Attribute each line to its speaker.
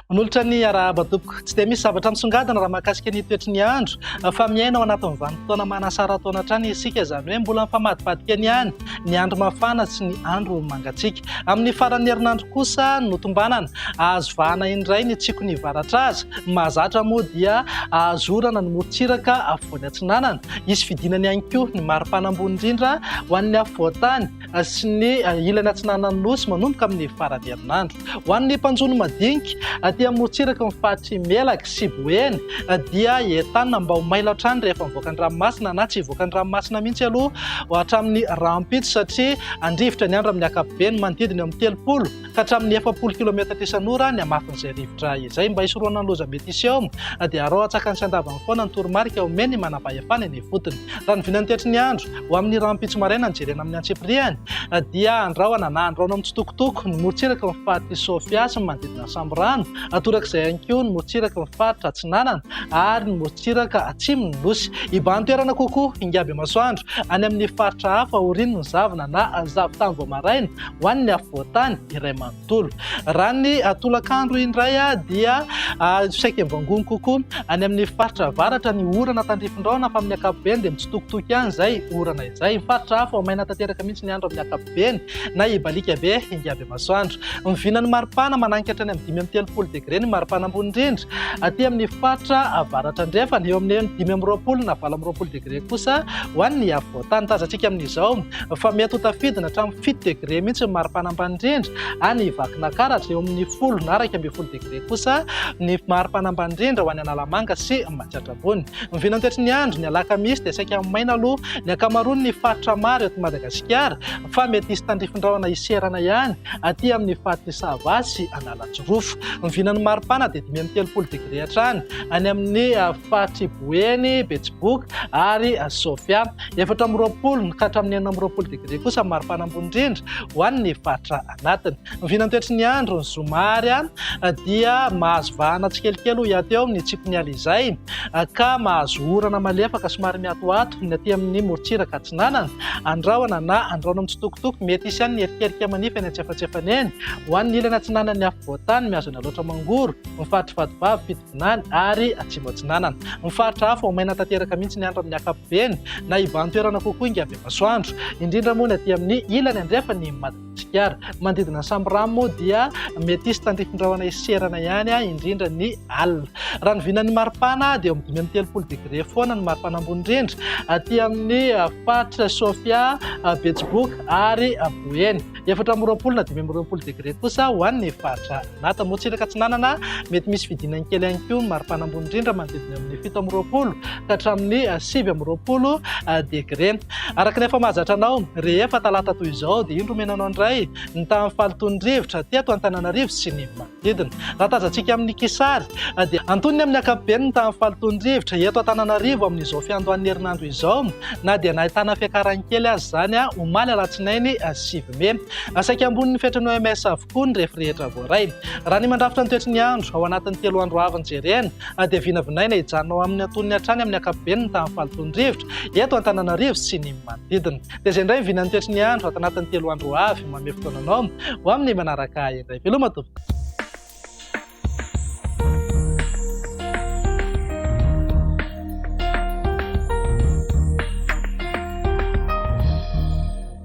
Speaker 1: Manolotra ny arahaba tompoko. Tsy dia misy zavatra misongadina raha mahakasika ny toetry ny andro fa miaina ao anatin'ny vanim-potoana manasara-taona hatrany isika, izany hoe mbola mifamadimbadika ny any ny andro mafana sy ny andro mangatsiaka. Amin'ny faran'ny herinandro kosa no tombanana, azo vahana indray ny tsiky ny varatraza. Mahazatra moa dia azo orana ny morontsiraka afovoany atsinanana. Hisy fidinana ihany koa ny maripana ambony indrindra ho an'ny afovoan-tany sy ny ilany atsinanan'ny Nosy manomboka amin'ny faran'ny herinandro. Ho an'ny mpanjono madinika aty amorontsiraky ny faritry Melaky sy Boeny dia i Etana mba ho mailo hatrany rehefa mivoaka ny ranomasina na tsy hivoaka ny ranomasina mihitsy aloha hatramin'ny rahampitso satria handrivotra ny andro amin'ny ankapobeny manodidina eo amin'ny telopolo ka hatramin'ny efapolo kilometatra isan'ora ny hamafin'izay rivotra izay. Mba hisorohana ny loza mety hisy eo dia araho antsakany sy andavany foana ny toromarika omen'ny manam-pahefana eny ifotony. Raha ny vinan'ny tetry ny andro Ho amin'ny rahampitso maraina nijerena amin'ny antsipiriany dia andrahona na andrahoina mitsitokotoko ny morontsiraky ny faritry Sofia sy ny manodidina ny Sambirano, torak'izay ihany koa ny morontsiraky ny faritra Atsinanana ary ny morontsiraka atsimon'ny Nosy. Hibahan-toerana kokoa hingam-bemasoandro any amin'ny faritra hafa aorian'ny zavona na zavon-tany vao maraina ho an'ny afovoan-tany iray manontolo. Tolo. Raha ny tolakandro indray dia saika mivangony kokoa any amin'ny faritra avaratra ny orana tandrifindraona fa amin'ny ankapobeny dia mitsitokotoko ihany izay orana izay. Ny faritra hafa vao maina tanteraka mihitsy ny andro amin'ny ankapobeny na hibaliaka be hingavy masoandro. Miviana ny maripana mananika hatrany amin'ny dimy amby telopolo degre ny maripana ambony indrindra aty amin'ny faritra avaratra andrefana, eo amin'ny dimy amby roapolo na valo amby roapolo degre kosa ho an'ny afovoan-tany. Tazantsika amin'izao. fa mety ho tafidina hatramin'ny fito degré mihitsy ny maripana ambany indrindra ary ny Vakinankaratra eo amin'ny folo na iraika ambin'ny folo degré kosa ny maripana ambany indrindra ho any Analamanga sy Matsiatrabony. Ny vinantoetry ny andro ny alakamisy dia saika maina aloha ny ankamaroan'ny faritra maro eto Madagasikara fa mety hisy tandrifin-drahona hiserana ihany aty amin'ny faritr'i Sava sy Analanjirofo. Ny vinan'ny maripana dia dimy amby telopolo degré hatrany any amin'ny ah, faritr'i Boeny, Betsiboka ary ah, Sofia. Efatra amby roapolo ka hatramin'ny enina amby roapolo degre kosa ny maripana ambony indrindra ho an'ny faritra anatiny. Ny vinantoetry ny andro ny zoma ary dia mahazo vahana tsikelikely ho hiato eo amin'ny tsipy ny alizay ka mahazo orana malefaka somary mihatohato ny aty amin'ny morontsiraka atsinanana. Andrahona na andrahona mitsitokotoko, mety hisy ihany ny erikerika manify any an-tsefatsefany eny. Ho an'ny ilany atsinanan'ny afovoan-tany, mihazona loatra mangoro ny faritry Vatovavy, Atsinanana ary Atsimo Atsinanana. Ny faritra hafa ho maina tanteraka mihitsy ny andro amin'ny ankapobeny na ivan-toerana kokoa ingahy Bemasoandro, indrindra moa ny aty amin'ny ilany andrefan'i Madagasikara. Ny manodidina ny Sambirano moa dia mety hisy tandrifin-drahona hiserana ihany, indrindra ny alina. Raha ny vinan'ny maripana dia eo amin'ny dimy amby telopolo degre foana ny maripana ambony indrindra aty amin'ny faritra Sofia, Betsiboka ary Boeny. Efatra amby roapolo na dimy amby roapolo degre kosa ho an'ny faritra Anata. Morontsiraka Atsinanana, mety misy fidinany kely ihany koa ny maripana ambony indrindra manodidina amin'ny fito amby roapolo ka hatramin'ny sivy amby roapolo degre. Araka ny efa mahazatra anao, rehefa talata toy izao dia indro omena anao indray ny tahan'ny fahalotoan'ny rivotra teto Antananarivo sy ny Didina. Raha tazantsika amin'ny kisary dia antonony amin'ny ankapobeny ny tahan'ny fahalotoan'ny rivotra eto Antananarivo amin'izao fiandohan'ny herinandro izao na dia nahitana fiakarany kely aza izany omaly alatsinainy sivy mey. Saika ambonin'ny fetrin'ny OMS avokoa ny refy rehetra voaray. Raha ny mandrafitra ny toetry ny andro ao anatin'ny telo andro avy no jerena dia vinavinaina hijanona ho amin'ny antonony hatrany amin'ny ankapobeny ny tahan'ny fahalotoan'ny rivotra eto Antananarivo sy ny manodidina. Dia izay indray ny vinan'ny toetry ny andro ato anatin'ny telo andro ho avy. Manome fotoana anao ho amin'ny manaraka ahy indray. Veloma tompoko.